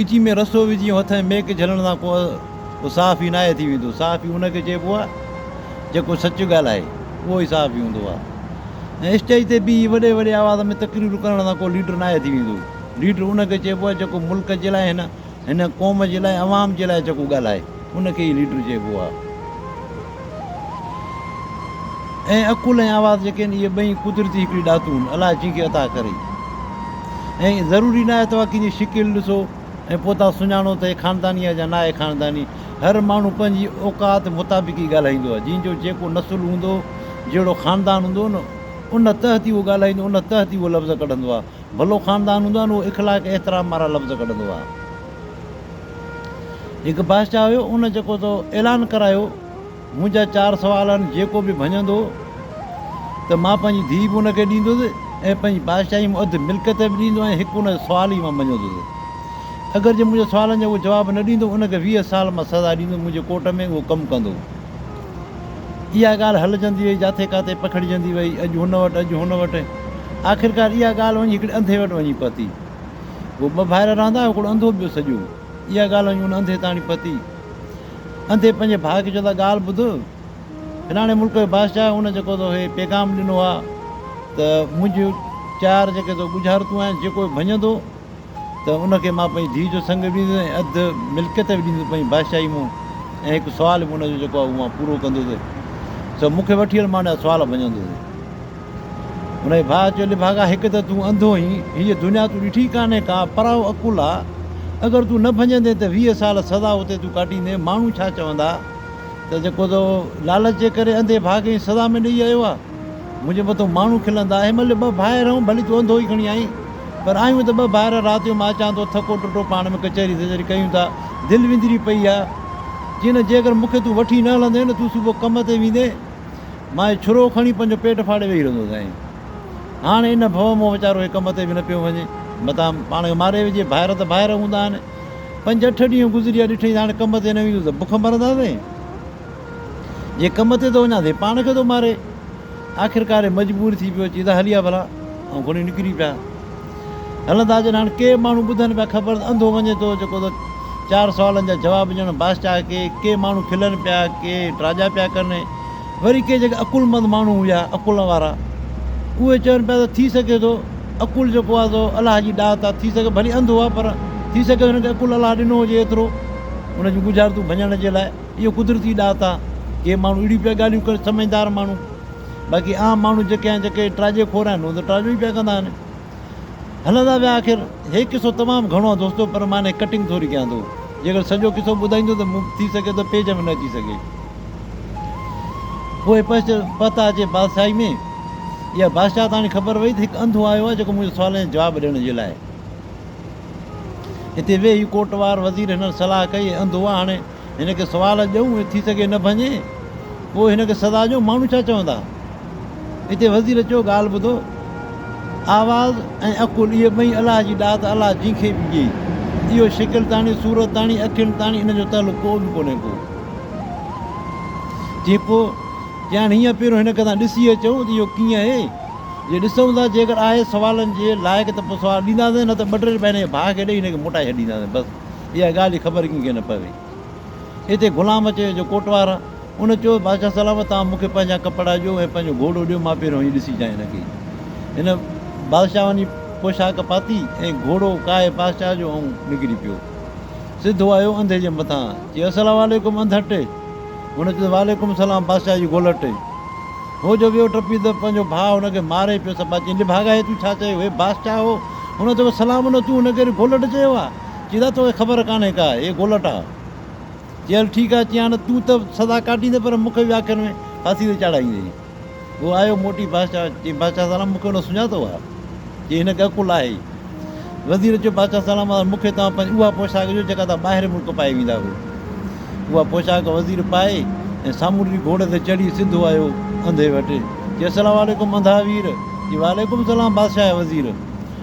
ڳچي ۾ رسو وجهي ۽ هٿ ۽ ميڪ جهلڻ سان ڪو صحافي ناهي ٿي ويندو. صحافي ان کي چئبو آهي جيڪو سچ ڳالهائي، اهو ئي صحافي هوندو آهي ۽ اسٽيج تي بيهي وڏي وڏي آواز ۾ تقريرون ڪرڻ سان ڪو ليڊر ناهي ٿي ويندو. ليڊر ان کي چئبو آهي جيڪو ملڪ جي لاء هن هن قوم جي لاء عوام جي لاء جيڪو ڳالهائي. ان کي ئي ليڊر چئبو آهي ۽ عقل ۽ آواز جيڪي آهن اهي ٻئي قدرتي هڪڙي ڏاتون الاء ڪنهن کي عطا ڪري ۽ ضروري ناهي توهان ڪنهن جي شڪل ڏسو ۽ پوء تان سڃاڻو ته هي خانداني آهي يا ناهي خانداني هر ماڻهو پنهنجي اوقات مطابق ئي ڳالهائيندو آهي جنهن جو جيڪو نسل هوندو جهڙو خاندان هوندو نه ان تحت ئي اهو ڳالهائيندو ان تحت ئي اهو لفظ ڪڍندو آهي ڀلو خاندان هوندو آهي نه اهو اخلاق احترام وارا لفظ ڪڍندو آهي هڪ بادشاهه هيو ان جيڪو تو اعلان ڪرايو منهنجا چار سوال آهن جيڪو به ڀڃندو ته مان پنهنجي ڌيء به ان کي ڏيندس ۽ پنهنجي بادشاهي ۾ اڌ ملڪيت به ڏيندو ۽ هڪ ان جو سوال ئي مان مڃيندس اگر جي منهنجي سوالن جو اهو جواب نه ڏيندو ان کي ويهه سال مان سزا ڏيندس منهنجي ڪورٽ ۾ اهو ڪم ڪندو اها ڳالهه هلجندي وئي جاٿي ڪاٿي پکڙجندي وئي اڄ هن وٽ اڄ هن وٽ آخرڪار اها ڳالهه وڃي هڪڙي انڌي وٽ وڃي پهتي هو ٻه ڀائر رهندا هئا، هڪڙو انڌو ٻيو سڄو. اها ڳالهه وڃي ان انڌي تاڻي پتي. انڌي پنهنجي ڀاء کي چيو ته ڳالهه ٻڌ، فلاڻي ملڪ جو بادشاهه ان جيڪو تو کي پيغام ڏنو آهي ته منهنجيون چار جيڪي تو ڳجهارتون آهن، جيڪو به ڀڃندو ته ان کي مان پنهنجي ڌيء جو سڱ به ڏيندس ۽ اڌ ملڪيت به ڏيندس پنهنجي بادشاهي مون ۽ هڪ سوال به ان جو جيڪو آهي اهو مان پورو ڪندس سو مون کي وٺي هل مان ان جا سوال ڀڃندس. هن جي ڀاء چيو، لڀاڳا! هڪ ته تون انڌو آهين، هيء دنيا تون ڏٺي ڪانهي ڪا، پرايو عقل آ. اگر تون نه ڀڃندين ته ويهه سال سزا اتي تون ڪاٽيندين، ماڻهو ڇا چوندا ته جيڪو تو لالچ جي ڪري انڌي ڀاء کي سزا ۾ ڏيئي آيو آ. منهنجي مٿو ماڻهو کلندا. هن مهل ٻه ڀائر آهيون، ڀلي تون انڌو ئي کڻي آئين، پر آهيون ته ٻه ڀائر، رات جو مان اچان ٿو، ٿڪو ٽٽو پاڻ ۾ ڪچهري ڌچهري ڪيون ٿا، دل وندري پئي آ. چينس، جيڪر مون کي تون وٺي نه هلندين، تون صبح ڪم تي ويندين. مائي ڇرو کڻي پنهنجو پيٽ ڦاڙي ويهي رهندو سائين. هاڻ ان ڀؤ مان ويچارو هڪ ڪم تي به نه پيو وڃي. متان پاڻ کي ماري وجهي. ڀائر ته ڀائر هوندا آهن. پنج اٺ ڏينهن گذري ويا ڏٺئي ته هاڻي ڪم تي نه ويندس ته بک مرنداسين. جي ڪم تي ٿو وڃان ته هي پاڻ کي ٿو ماري. آخرڪار هي مجبور ٿي پيو اچي ته هلي آ ڀلا. ائين کڻي نڪري پيا. هلن ٿا اچن هاڻ ڪي ماڻهو ٻڌن پيا خبر ته انڌو وڃي ٿو جيڪو ته چار سوالن جا جواب ڄڻ بادشاهه کي ڪي ماڻهو کلن پيا ڪي ٽراڄا پيا ڪن وري ڪي جيڪي عقل مند ماڻهو هيا عقل وارا اهي چون پيا ته ٿي سگهي ٿو عقل جيڪو آهي سو الله جي ڏات آهي ٿي سگهي ڀلي انڌو آهي پر ٿي سگهي ٿو هن کي عقل الله ڏنو هجي ايترو ان جون ڳجهارتون ڀڃڻ جي لاء اهو قدرتي ڏات آهي ڪي ماڻهو اهڙيون پيا ڳالهيون ڪن سمجهدار ماڻهو باقي عام ماڻهو جيڪي آهن جيڪي ٽراجي خور آهن اهي ته ٽراجيون ئي پيا ڪندا آهن هلندا ويا آخر هي قصو تمام گهڻو آهي دوستو پر مان هني ڪٽنگ ٿوري ڪيان ٿو جيڪر سڄو قصو ٻڌائيندو ته مون ٿي سگهي ٿو پيج ۾ نه اچي سگهي پوء پهچ پهتا اچي بادشاهي ۾ اها بادشاهه تاڻي خبر وئي ته هڪ انڌو آيو آهي جيڪو منهنجي سوالن جا جواب ڏيڻ جي لاء هتي ويهي ڪوٽ وار وزير هنن صلاح ڪئي انڌو آ هاڻي هن کي سوال اچ ڏيون ۽ ٿي سگهي نه ڀڃي پوء هن کي سزا ڏيون ماڻهو ڇا چوندا؟ اتي وزير چيو ڳالهه ٻڌو آواز ۽ عقل اهي ٻئي الله جي ڏات الله جنهن کي به ڏئي اهو شڪل تاڻي صورت تاڻي اکين تاڻي ان جو تعلق ڪو به ڪونهي ڪو چي پوء چيائين هينئن پهريون هن کي تان ڏسي اچون ته اهو ڪيئن اهي جي ڏسون ٿا جيڪر آهي سوالن جي لائق ته پوء سوال ڏينداسين نه ته ٻه ٽي رپيا هن جي ڀاء کي ڏئي هن کي موٽائي ڇڏينداسين بس اها ڳالهه جي خبر ڪنهن کي نه پوي. اتي غلام اچي ويو جو ڪوٽوار آ. ان چيو، بادشاهه سلامت، توهان مون کي پنهنجا ڪپڙا ڏيو ۽ پنهنجو گهوڙو ڏيو، مان پهريون هيء ڏسي جانء لڳي. هن بادشاهه واني پوشاڪ پاتي ۽ گهوڙو ڪاهي بادشاهه جو ۽ نڪري پيو. سڌو آيو انڌي جي مٿان، چيو، السلام عليڪم انڌٽ! هن چيس، وعليڪم السلام بادشاهه جي گولٽ! هو جو ويو ٽپي ته پنهنجو ڀاء هن کي ماري پيو سپا چين، لي ڀاڳا هي تون ڇا چيو؟ هي بادشاهه هو، هن چيو، سلام نه تون هن کي گولٽ چيو آ؟ چيو ته توکي خبر ڪانهي ڪا، اي گولٽا! چي هل ٺيڪ آهي، چيان ته تون ته سزا ڪاٽيندين پر مون کي به آخر ۾ ڦاسي تي چاڙهائيندين. هو آيو موٽي بادشاهه چي بادشاهه سالار مون کي هن سڃاتو آهي، چي هن ڳهه ڪل آهي. وزير چيو بادشاهه سالار مهاراج مون کي توهان پنهنجي اها پوشاڪ ڏيو جيڪا توهان ٻاهرين ملڪ پائي ويندا هئو. اها پوشاڪ وزير پائي ۽ سامونڊي گهوڙي تي چڙهي سڌو آيو انڌي وٽ. چي السلام عليڪم انڌا وير! چي وعليڪم السلام بادشاهه وزير!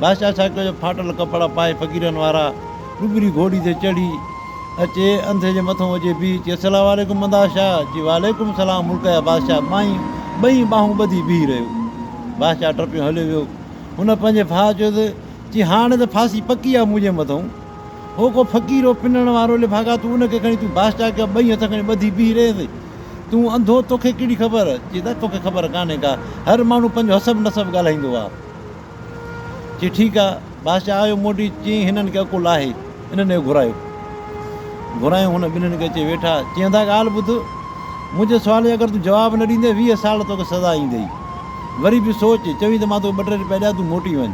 بادشاهه ڇا ڪيو جو ڦاٽل ڪپڙا پائي فقيرن وارا ڏٻري گهوڙي تي چڙهي اچي انڌي جي مٿو وجهي بيهي چي السلام عليڪم مداح شاهه چي وعليڪم السلام ملڪ جا بادشاهه مائين ٻئي ٻانهون ٻڌي بيهي رهيو بادشاهه ٽپيون هليو ويو هن پنهنجي ڀاء چيو ته چي هاڻي ته ڦاسي پڪي آ منهنجي مٿون هو ڪو فقير هو پنڻ وارو لفاقا تون ان کي کڻي تون بادشاهه کي ٻئي هٿ کڻي ٻڌي بيهي رهين ٿي تون انڌو توکي ڪهڙي خبر چي ته توکي خبر ڪانهي ڪا هر ماڻهو پنهنجو حسب نسب ڳالهائيندو آ چي ٺيڪ آ، بادشاهه آيو موٽي چيائين هنن کي عقل آهي، انهن کي گهرايو. گهرايون هن ٻنهين کي اچي ويٺا، چيائين ته ڳالهه ٻڌ، منهنجي سوال جو اگر تون جواب نه ڏيندين ويهه سال توکي سزا ايندي، وري به سوچ، چوين ته مان توکي ٻه ٽي روپيا ڏيان تون موٽي وڃ.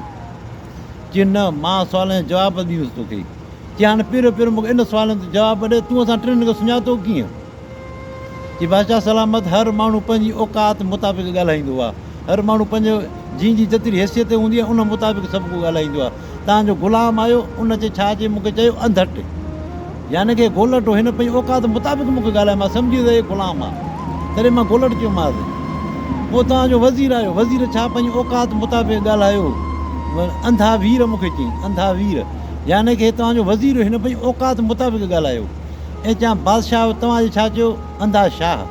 چيائين نه، مان سوالن جا جواب ڏيندس توکي. چيائين هاڻ پهريون پهريون مونکي ان سوالن جو جواب ڏي، تون اسان ٽنهن کي سڃاتو ڪيئن؟ جي بادشاهه سلامت هر ماڻهو پنهنجي اوقات مطابق ڳالهائيندو آهي هر ماڻهو پنهنجي جنهن جي جيتري حيثيت هوندي آهي ان مطابق سڀ ڪو ڳالهائيندو آهي تان جو غلام آيو ان چي ڇا چي مون کي چيو انڌٽ يعني ڪي گولٽ هو هن پنهنجي اوقات مطابق مون کي ڳالهائي مان سمجهي ويس هي غلام آهي تڏهن مان گولٽ چيومانس پوء تان جو وزير آيو وزير ڇا پنهنجي اوقات مطابق ڳالهايو انڌا وير مون کي چيائين انڌا وير يعني ڪي تان جو وزير هن پنهنجي اوقات مطابق ڳالهايو. ۽ چيان، بادشاهه توهان جي ڇا چيو؟ انڌا، شاهه!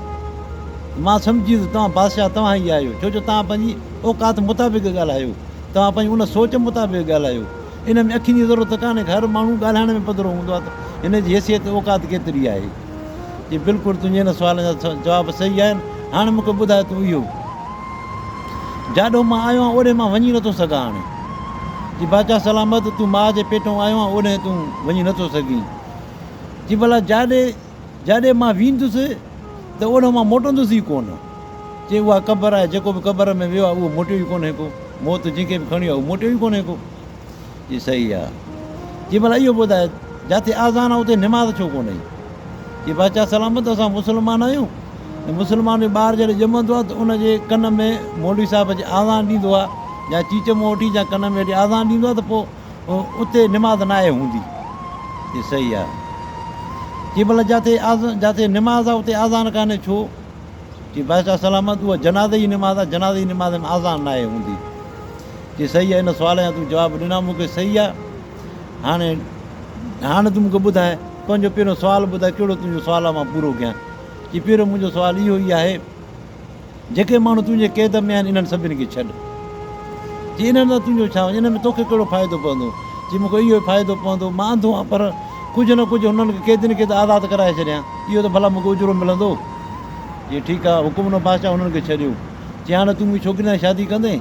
مان سمجهي ويس توهان بادشاهه توهان ئي آهيو، ڇو جو توهان پنهنجي اوقات مطابق ڳالهايو، توهان پنهنجي ان سوچ مطابق ڳالهايو. ان ۾ اکين جي ضرورت ڪانهي ڪا، هر ماڻهو ڳالهائڻ ۾ پڌرو هوندو آهي ته هن جي حيثيت اوقات ڪيتري آهي. چيائين، بلڪل تنهنجي ان سوالن جا جواب صحيح آهن، هاڻ مون کي ٻڌاء ته تون اهو، جاڏو مان آيو آهيان اوڏي مان وڃي نٿو سگهان هاڻي؟ چيائين، بادشاهه سلامت! تون ماء جي پيٽون آيو آهين اوڏهين تون وڃي نٿو سگهين. جي ڀلا جاڏي جاڏي مان ويندس ته اوڏ مان موٽندس ئي ڪونه. چي اها قبر آهي، جيڪو به قبر ۾ ويو آهي اهو موٽيو ئي ڪونهي ڪو، موت جنهن کي به کڻيو آهي اهو موٽيو ئي ڪونهي ڪو. چي صحيح آهي. چي ڀلا اهو ٻڌاء جاتي آذان آهي اتي نماز ڇو ڪونه ايئي؟ چي بادشاهه سلامت اسان مسلمان آهيون ۽ مسلمان جو ٻار جڏهن ڄمندو آهي ته ان جي ڪن ۾ مولوي صاحب اچي آذان ڏيندو آهي يا چيچ مون وٺي جا ڪن ۾ وٺي آذان ڏيندو آهي ته پوء اتي نماز ناهي هوندي. هي صحيح آهي. چي ڀلا جاتي جاتي نماز آهي اتي آذان ڪانهي ڇو؟ چي بادشاهه سلامت اها جنازي جي نماز آهي جنازي جي نماز ۾ آذان ناهي هوندي. چي صحيح آهي ان سوال جا تون جواب ڏنا مون کي صحيح آهي هاڻي هاڻي تون مون کي ٻڌاء پنهنجو پهريون سوال ٻڌاء ڪهڙو تنهنجو سوال آهي مان پورو ڪيان. چي پهريون منهنجو سوال اهو ئي آهي. جيڪي ماڻهو تنهنجي قيد ۾ آهن، انهن سڀني کي ڇڏ. جي انهن سان تنهنجو ڇا وڃي؟ انهن ۾ توکي ڪهڙو فائدو پوندو؟ چي، مون کي اهو ئي فائدو پوندو. مان انڌو آهيان، پر ڪجهه نه ڪجهه هنن کي قيدين کي ته آزاد ڪرائي ڇڏيان. اهو ته ڀلا مون کي اجرو ملندو. چي، ٺيڪ آهي، حڪم ڏنو بادشاهه هنن کي ڇڏيو. چي، هاڻي تون منهنجي ڇوڪريء سان شادي ڪندين؟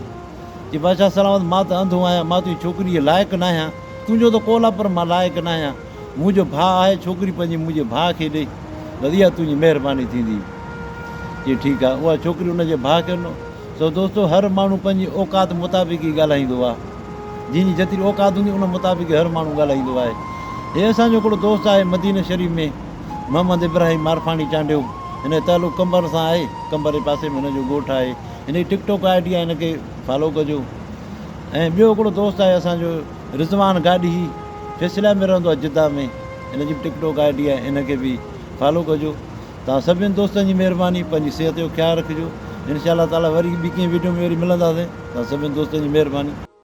چي، بادشاهه سلامت، مان ته انڌو آهيان، مان تنهنجي ڇوڪريء جي لائق ناهيان. تنهنجو ته قول آهي، پر مان لائق ناهيان. منهنجو ڀاء آهي ڇوڪري پنهنجي منهنجي ڀاء کي ڏي بس اها تنهنجي مهرباني ٿيندي چي ٺيڪ آهي اها ڇوڪري ان جي ڀاء کي ڏنو سو دوستو هر ماڻهو پنهنجي اوقات مطابق ئي ڳالهائيندو آهي جنهن جي جيتري اوقات هوندي ان مطابق هر ماڻهو ڳالهائيندو آهي هي اسان جو هڪڙو دوست آهي مدينه شريف ۾ محمد ابراهيم مارفاڻي چانڊيو هن جو تعلق قمبر سان آهي قمبر جي پاسي ۾ هن جو ڳوٺ آهي هن جي ٽڪ ٽاڪ آئي ڊي آهي هن کي فالو ڪجو ۽ ٻيو هڪڙو دوست آهي اسان جو رضوان گاڏهي فيصليان ۾ رهندو آهي جده ۾ ان جي به ٽڪ ٽوڪ آئي ڊي آهي ان کي به فالو ڪجو توهان سڀني دوستن جي مهرباني پنهنجي صحت جو خيال رکجو انشاء الله تعالٰي وري ٻي ڪنهن ويڊيو ۾ وري ملنداسين توهان سڀني دوستن جي مهرباني.